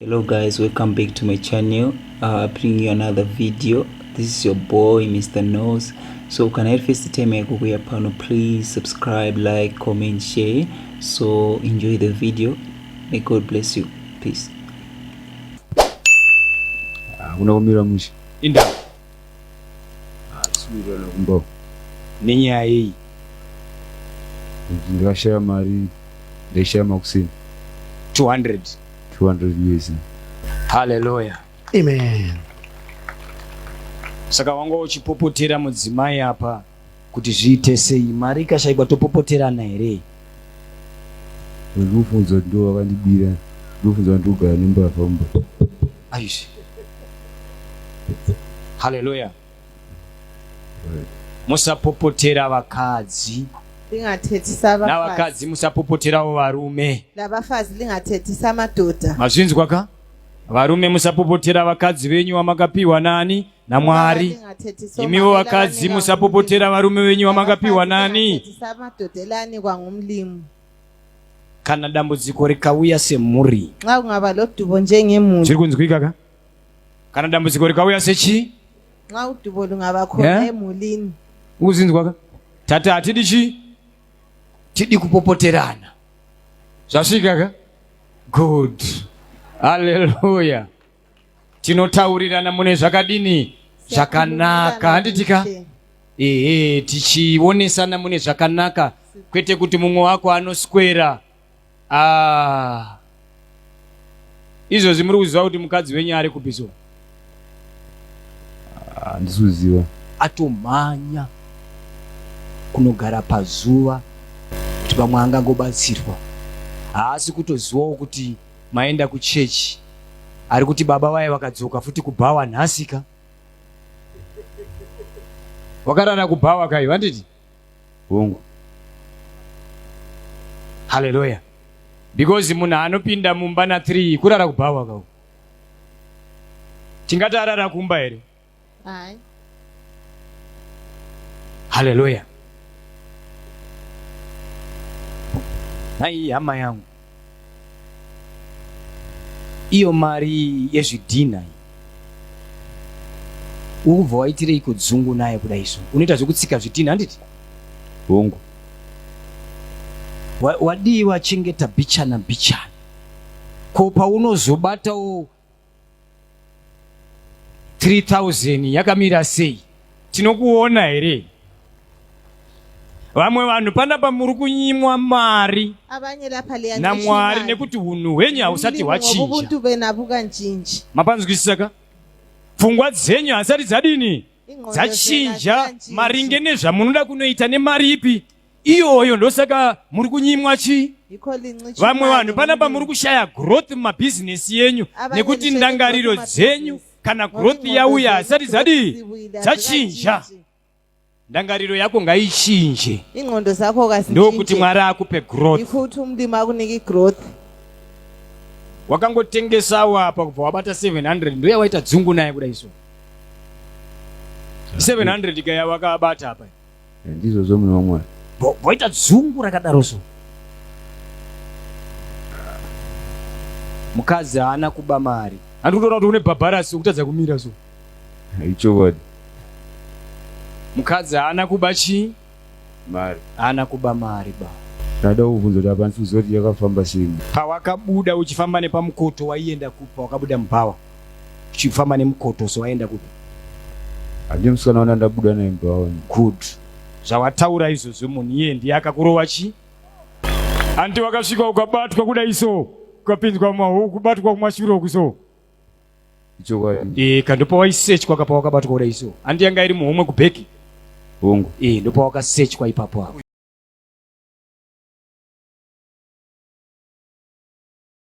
hello guys welcome back to my channel uh, bring you another video this is your boy mr nose so can i first time yako kuya pano please subscribe like comment share so enjoy the video may god bless you peace ah, unaumira musha indawo Sungirana kumba nenyaya yei? Ndakashaya mari, ndaishaya makuseni 200 200 years. Hallelujah. Amen. Saka wanga uchipopotera mudzimai apa kuti zviite sei mari ikashaikwa topopoterana here ndofunzwa kuti ndovakandibira ndofunzwa kuti ndogara nembavha mumba aizvi haleluya musapopotera vakadzi lingathetisa navakadzi musapopoterawo varume nabafazi lingathetisa amadoda mazvinzwa ka varume musapopotera vakadzi venyu vamakapiwa nani naMwari. Imiwo vakadzi musapopotera varume venyu vamakapiwa nani. Kana dambudziko rikauya semhuri. Nxa kungaba lodubo njengemhuri. Chiri kunzwika ka? Kana dambudziko rikauya sechi? Nxa udubo lungaba khona eh? emhulini. Ukuzinzwa ka? Tata hatidi chi? Tidi kupopoterana. Zvasvika ka? Good. Hallelujah. tinotaurirana mune zvakadini zvakanaka handitika ehe tichionesana mune zvakanaka kwete kuti mumwe wako anoswera ah. izvozvi muri kuziva kuti mukadzi wenyu ari kupi so handisi ah, kuziva atomhanya kunogara pazuva kuti vamwe angangobatsirwa haasi kutozivawo kuti maenda kuchurch ari kuti baba vaye vakadzoka futi kubhawa nhasika wakarara kubhawa kai vanditi hongu haleluya because munhu anopinda mumba na3 kurara kubhawa kau tingati arara kumba here Hai. Haleluya. Nhai hama yangu, iyo mari yezvidhina iyi ukubva waitirei kudzungu naye kuda izvo unoita zvekutsika zvidhina handiti hongu wadii wachengeta bichana bichana ko paunozobatawo 3000 yakamira sei tinokuona here vamwe vanhu panapa muri kunyimwa mari namwari nekuti unhu hwenyu hausati hwachinja mapanzwisisa ka pfungwa dzenyu hasati dzadini dzachinja maringe nezvamunoda kunoita nemari ipi iyoyo ndosaka muri kunyimwa chii vamwe vanhu panapa muri kushaya growth mumabhizinesi yenyu nekuti ndangariro dzenyu kana growth yauya hasati dzadii dzachinja ndangariro yako ngaichinje ingqondo zakho ndokuti mwari akupe growthikuti umlimi akuniki growth wakangotengesawo apa kubva wabata 700 ndoya waita dzungu naye kuda iso 700 ikaya wakabata apa Ndizvozvo munhu waMwari. Voita dzungu rakadaro so. Mukadzi haana kuba mari. Handi kutoona kuti une bhabharasi ukutadza kumira so. Ichokwadi. Mukadzi haana kuba chii? Mari. Haana kuba mari ba. Ndada kuvhunza kuti apa ndisi kuziva kuti yakafamba sei. Pawakabuda uchifamba nepamukoto waienda kupi pawakabuda mubhawa? uchifamba nemukoto so waenda kupi handii musikana wana ndabuda naye mumba wani good zvawataura izvozvo munhu iye ndiye akakurova chii hanti wakasvika ukabatwa kudai so ukapinzwa mahu kubatwa kumashuro uku so ichokwadi e, ka ndopawaisearchwa kapa wakabatwa kudai so hanti yanga iri muhomwe kubheki hongu e, ndopawakasearchwa ipapo apo